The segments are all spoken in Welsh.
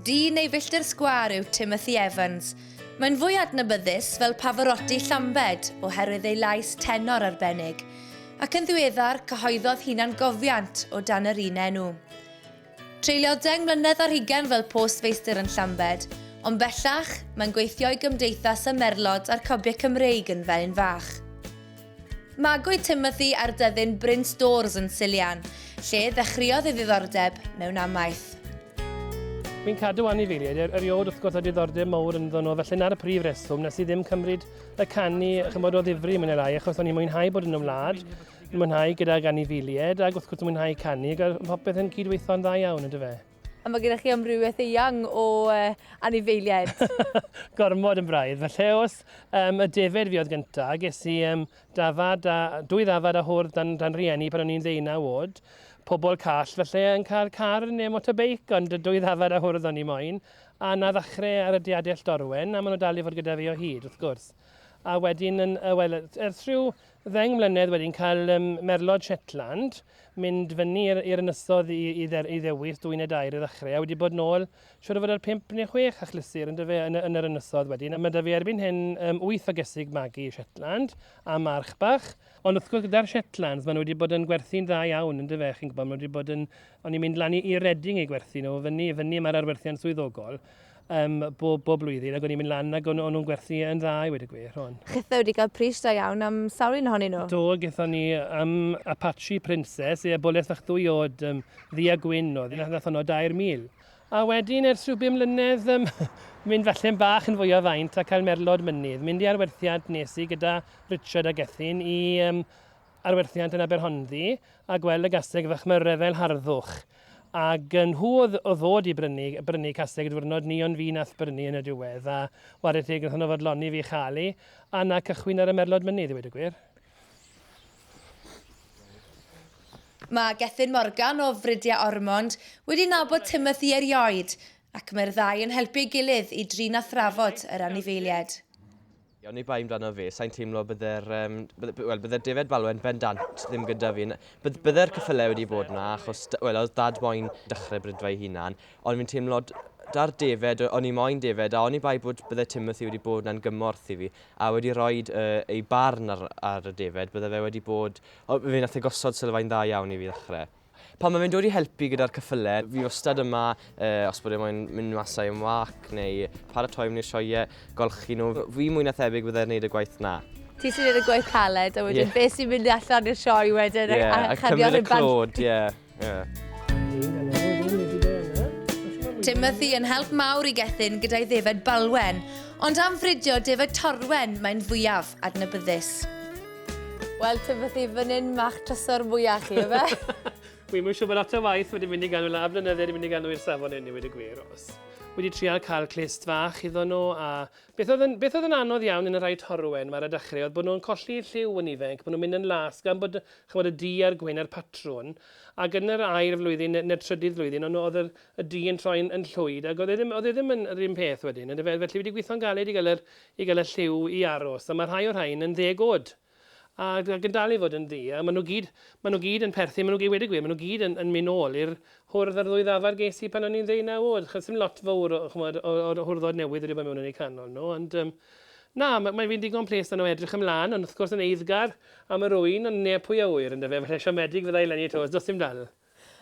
Dyn ei filltir sgwâr yw Timothy Evans. Mae'n fwy adnabyddus fel Pavarotti Llambed oherwydd ei lais tenor arbennig, ac yn ddiweddar cyhoeddodd hunan gofiant o dan yr un enw. Treuliodd deng mlynedd ar hugain fel post feistr yn Llambed, ond bellach, mae'n gweithio i Gymdeithas y Merlod a'r Cobiau Cymreig yn Felin Fach. Magwyd Timothy ar dyddyn Bryn Stores yn Silian, lle ddechreuodd ei ddiddordeb mewn amaeth. Fi'n cadw anifeiliaid er, eriod wrth gwrs a diddordeb mowr ynddo nhw, felly 'na'r prif reswm nes i ddim cymryd y canu ch'mod o ddifri mwy ne' lai achos o'n i'n mwynhau bod yn y wlad. Yn mwynhau gydag anifeiliaid ac wrth gwrs yn mwynhau canu ac mae popeth yn cydweithio'n dda iawn ynddo fe. A mae gennych chi amrywiaeth eang o uh, anifeiliaid. Gormod yn braidd. Felly os um, y defed fi oedd gyntaf, ges i um, dafad a, dwy ddafad a hwrdd dan, dan rieni pan o'n i'n ddeunaw oed. Pobl call felly yn cael car neu motorbeic, ond dwy ddafad a hwrdd o'n i moyn. A na ddechrau ar y diadell dorwen, a maen nhw dal i fod gyda fi o hyd, wrth gwrs. A wedyn, yn, uh, well, ers rhyw Ddeng mlynedd wedyn cael yym merlod Shetland, mynd fyny i'r i'r ynysodd i i dder- i ddewis dwyn y dair i ddechre, a wedi bod nôl siŵr o fod ar pump neu chwech achlysur yndyfe yn y yn yr ynysodd wedyn, a ma' 'da fi erbyn hyn yym wyth o gesig magu Shetland a march bach. Ond wrth gwrs gyda'r Shetlands ma' nw wedi bod yn gwerthu'n dda iawn yndyfe chi'n gwbo, ma' nw wedi bod yn o'n i'n mynd lan i i Reading i gwerthu nw fyny fyny ma'r arwerthiant swyddogol, um, bob, bob blwyddyn ac o'n i'n mynd lan ac o'n, o'n nhw'n gwerthu yn dda i wedi gwir hwn. Chitho wedi cael pris da iawn am sawl un ohonyn nhw? Do, gyda ni am um, Apache Princess, e boleth fach ddwy oed um, ddi a gwyn oedd, nath, nath honno 2,000. A wedyn, ers rhyw bum mlynedd, um, mynd falle'n bach yn fwy o faint a cael merlod mynydd. Mynd i arwerthiad nes i gyda Richard a Gethin i um, ar werthiant yn Aberhonddu a gweld y gaseg fach mewn rhyfel harddwch. Ac yn nhw oedd o ddod i brynu, brynu caseg y diwrnod ni ond fi nath brynu yn y diwedd a ware teg nath nhw fodloni fi chalu a na cychwyn ar y merlod mynydd i weud y gwir. Mae Gethin Morgan o Fridia Ormond wedi nabod Timothy erioed ac mae'r ddau yn helpu ei gilydd i drin a thrafod yr anifeiliaid. Ie, oni bai amdano fi, sa'n teimlo bydde'r, um, bydde, well, bydde David Balwen bendant ddim gyda fi. Bydde bydde'r cyffylau wedi bod yna, achos, well, oedd dad moyn dechrau brydfa ei hunan, ond fi'n teimlo da'r David, o'n i moyn David, a oni bai bod bydde Timothy wedi bod yna'n gymorth i fi, a wedi rhoi uh, ei barn ar, ar y David, bydde fe wedi bod, o, fe nath e gosod sylfaen dda iawn i fi ddechrau. Pan mae fe'n dod i helpu gyda'r cyffyle, fi wastad yma, uh, os bod e moyn mynd mas â'i ymwac neu paratoi am i'r sioiau, golchi nhw. Fi mwy na thebyg byddai'n gwneud y gwaith na. Ti sy'n gwneud y gwaith caled, a wedyn yeah. beth sy'n mynd allan i'r sioe wedyn yeah, a, a cymryd y clod, ie. Yeah. Yeah. Timothy yn help mawr i Gethin gyda'i ddefed balwen, ond am fridio defed torwen mae'n fwyaf adnabyddus. Wel, ti'n fydd i fyny'n mach trysor mwyach chi, efe? Wi mwyn siw bod lot o waith wedi mynd i ganol a blynydde wedi mynd i ganol i'r safon enni wedi gwir os. Wedi trial cael clust fach iddo nhw a beth oedd, yn, beth oedd yn anodd iawn yn y rhai torwen mae'r adachrau oedd bod nhw'n colli lliw yn ifanc, bod nhw'n mynd yn las gan bod chymod, y du a'r gwyn a'r patrwn ac yn yr air flwyddyn neu'r trydydd flwyddyn ond oedd yr, y du yn troi'n yn llwyd ac oedd e ddim, oedd e ddim yn yr un peth wedyn, yn dyfe? Felly wedi gweithio'n galed i gael yr i gael y lliw i aros, a mae rhai o'r rhain yn ddeg oed, ac ac yn dal i fod yn ddu, a maen nhw gyd, maen nhw gyd yn perthyn, maen nhw gyd, wedi gwir, maen nhw gyd yn yn mynd nôl i'r hwrdd a'r ddwy ddafad ges i pan o'n i'n ddeunaw oed, achos dim lot fawr o, chimod, o o'r hwrddod newydd wedi bod mewn yn eu canol nhw, ond yym, na, mae mae fi'n ddigon plesed yno edrych ymlaen, ond wrth gwrs yn eiddgar am yr ŵyn, ond neb pwy a ŵyr, yndyfe, falle siomedig fydda i leni 'to, os does dim dal.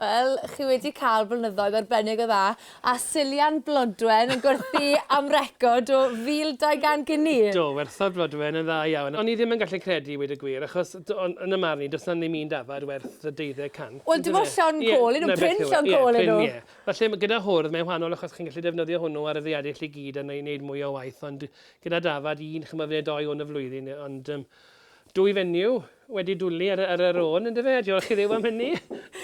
Wel, chi wedi cael blynyddoedd arbennig o dda, a Silian Blodwen yn gwerthu am record o 1,200 gini! Do, werthodd Blodwen yn dda iawn. O'n i ddim yn gallu credu i weud y gwir, achos yn 'y marn i, does 'na ddim un dafad werth y deuddeg cant, yndyfe? Wel, dim ond llond col yw nhw, prin llond col yw nhw! Ie, prin, ie. Falle ma' gyda hwrdd mae'n wahanol achos chi'n gallu defnyddio hwnnw ar y ddaear i chi gyd a neud mwy o waith, ond gyda dafad un, ch'mod, ne' dou hwn y flwyddyn, ond yym Dwy fenyw wedi dwli ar ar yr ôn yndyfe a diolch i Dduw am hynny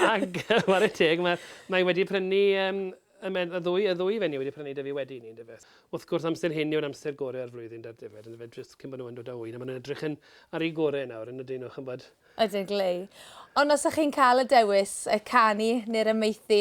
ag ware teg ma' mae wedi prynu yym y me- y ddwy y ddwy fenyw wedi prynu 'da fi wedi 'ny yndyfe. Wrth gwrs amser hyn yw'r amser gore o'r flwyddyn dar defaid yndyfe jyst cyn bo' nhw yn dod â ŵyn a ma' nhw'n edrych yn ar eu gore nawr yn ydyn nhw ch'mbod. Ydyn glei. Ond os 'ych chi'n ca'l y dewis yy canu ne'r amaethu